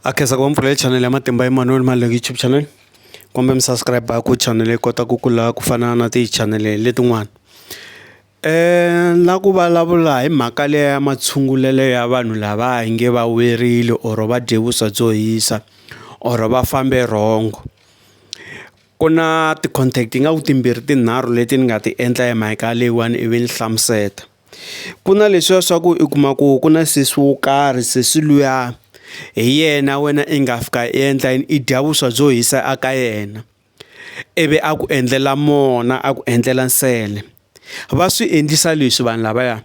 a khensa ku va mpfula hi chanel ya matimba Emmanuel Maluleke YouTube channel kumbe mi subscribe ku chanel yi kota ku kula ku fana na ti chanel letin'wana na ku vulavula hi mhaka leya matshungulelo ya vanhu lava hi nge va werile or va dye vuswa byo hisa or va fambe wrong ku na ti-contact ingaku timbirhi tinharhu leti ni nga ti endla hi mhaka leyiwani ivi ni hlamusela. Ku na leswiya swa ku i kuma ku ku na sesi wo karhi sesi luya hi yena wena i nga fika i endla yini i dya vuswa byo hisa a ka yena ivi a ku endlela mona a ku endlela nsele va swi endlisa leswi vanhu lavaya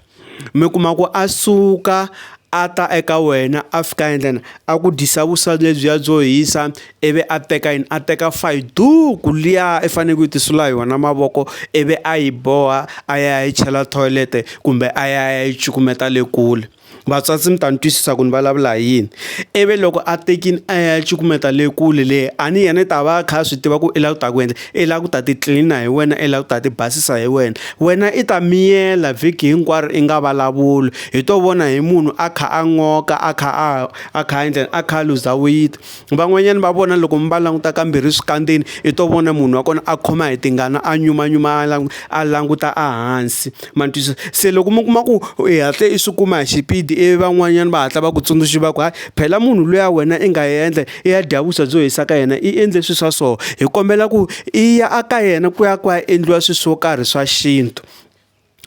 mi kuma ku a suka a ta eka wena a fika endla yini a ku dyisa vuswa lebyiya byo hisa. ivi a teka yini a teka fayiduku liya i fanele ku yi tisula hi wona mavoko ivi a yi boha a ya yi chela thoyilete kumbe a ya yi cukumeta le kule vatswatsi mi ta ni twisisa ku ni vulavula hi yini ivi loko a tekile a ya cukumeta le kule le a ni yena i ta va a kha a swi tiva ku i lava ku ta ku endla i lava ku ta ti tlilina hi wena i lava ku ta ti basisa hi wena wena i ta miyela vhiki hinkwaro i nga vulavuli hi to vona hi munhu a kha a n'oka a kha a a kha a endla a kha a luza weyiti. van'wanyana va vona loko mi va languta kambirhi eswikandzeni i to vona munhu wa kona a khoma hi tingana a nyumanyuma a languta a languta a hansi ma ni twisisa se loko mi kuma ku i hatle i swi kuma hi xipidi i van'wanyana va hatla va ku tsundzuxa va ku hayi phela munhu luya wena i nga endla i ya dya vuswa byo hisa ka yena i endle swilo swa so hi kombela ku i ya a ka yena ku ya ku ya endliwa swilo swo karhi swa xintu.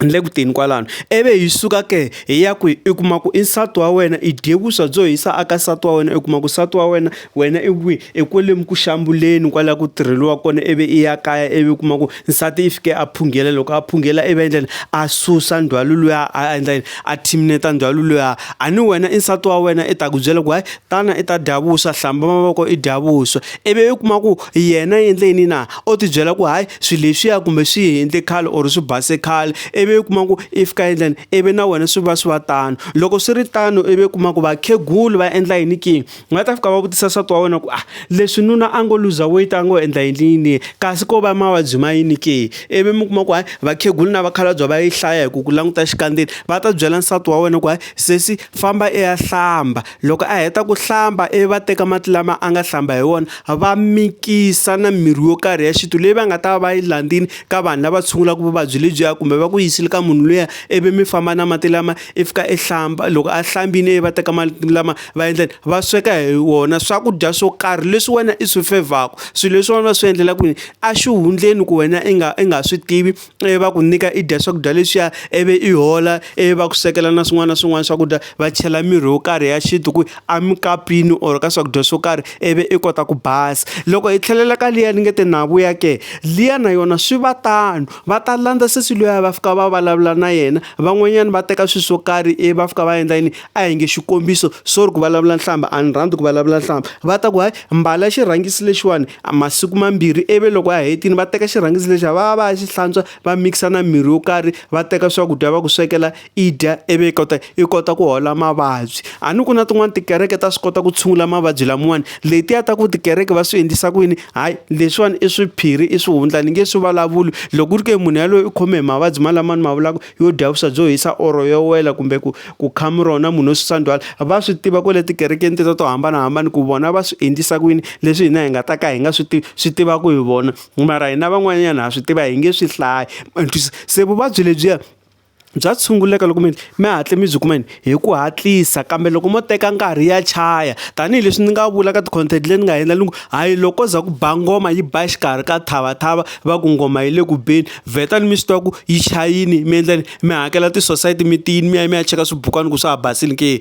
ni le ku teni kwalano ivi hi suka ke hi ya ku i kuma ku i nsati wa wena i dye vuswa byo hisa aka nsati wa wena i kuma ku nsati wa wena wena i kwihi i kwale ku xambuleni kwala ku tirheliwa kona ivi i ya kaya ivi kuma ku nsati i fike a phungela loko a phungela i va endla yini a susa ndzhwalo luya a endla yini a thineta ndzhwalo luya a ni wena i nsati wa wena i ta ku byela ku hayi tana i ta dya vuswa hlamba mavoko i dya vuswa ivi i kuma ku yena i endle yini na. u tibyela ku hayi swilo leswiya kumbe swi endle khale or swi base khale ivi u kuma ku i fika endlani ivi na wena swi va swi va tano loko swi ri tano ivi u kuma ku vakhegulu va endla yini ki va ta fika va vutisa nsati wa wena ku ah leswi nuna a ngo luza weight a ngo endla yini yini kasi ko va mavabyi ma yini ke ivi mi kuma ku hayi vakhegulu na vakhalabya va yi hlaya hi ku ku languta xikandzeni va ta byela nsati wa wena ku hayi sesi famba i ya hlamba. Loko a heta ku hlamba ivi va teka mati lama a nga hlamba hi wona va mikisa na mirhi yo karhi ya xintu leyi va nga ta va va yi landzile ka vanhu lava tshungulaka vuvabyi lebyiya kumbe va ku yisile ka munhu luya ivi mi famba na mati lama i fika i hlamba loko a hlambile ivi va teka mati lama va endla yini va sweka hi wona swakudya swo karhi leswi wena i swi fevhaku swilo leswi wena va swi endlela ku yini a xihundleni ku wena i nga i nga swi tivi ivi va ku nyika i dya swakudya leswiya ivi i hola ivi va ku swekela na swin'wana na swin'wana swakudya va chela mirhi yo karhi ya xintu ku a mikapini or ka swakudya swo karhi ivi i kota ku basa. Loko hi tlhelela ka liya ni nge te na vuya ke, liya na yona swi va tano va ta landza sesi luya va fika va vulavula na yena van'wanyana va teka swilo swo karhi ivi va fika va endla yini? a hi nge xikombiso sorry ku vulavula nhlamba a ni rhandzi ku vulavula nhlamba va ta ku hayi mbala xirhangisi lexiwani masiku mambirhi ivi loko a hetini va teka xirhangisi lexiya va va va ya xi hlantswa va mikisa na mirhi yo karhi va teka swakudya va ku swekela i dya ivi i kota i kota ku hola mavabyi a ni ku na tin'wani tikereke ta swi kota ku tshungula mavabyi lamiwani letiya ta ku tikereke va swi endlisa ku yini hayi leswiwani i swiphiri i swihundla ni nge swi vulavuli loko ku ri ke munhu yaloye u khome hi mavabyi malamani ma vulaka yo dya vuswa byo hisa oro yo wela kumbe ku ku khamu rona munhu wo susa ndzhwalo va swi tiva ku le tikerekeni teta to hambanahambana ku vona va swi endlisa ku yini leswi hina hi nga ta ka hi nga swi tivi swi tivaka hi vona mara hina van'wanyana ha swi tiva hi nge swi hlaya se vuvabyi lebyiya bya tshunguleka loko mi mi hatle mi byi kuma yini. hi ku hatlisa kambe loko mo teka nkarhi ya chaya tanihileswi ni nga vula ka ti-content leyi ni nga endla ni ku hayi loko za ku ba ngoma yi ba xikarhi ka thavathava va ku ngoma yi le ku beni vheta ni mi swi tiva ku yi chayini mi endla mi hakela ti-society mi tiyini mi ya mi ya cheka swibukwana ku swa ha basile ke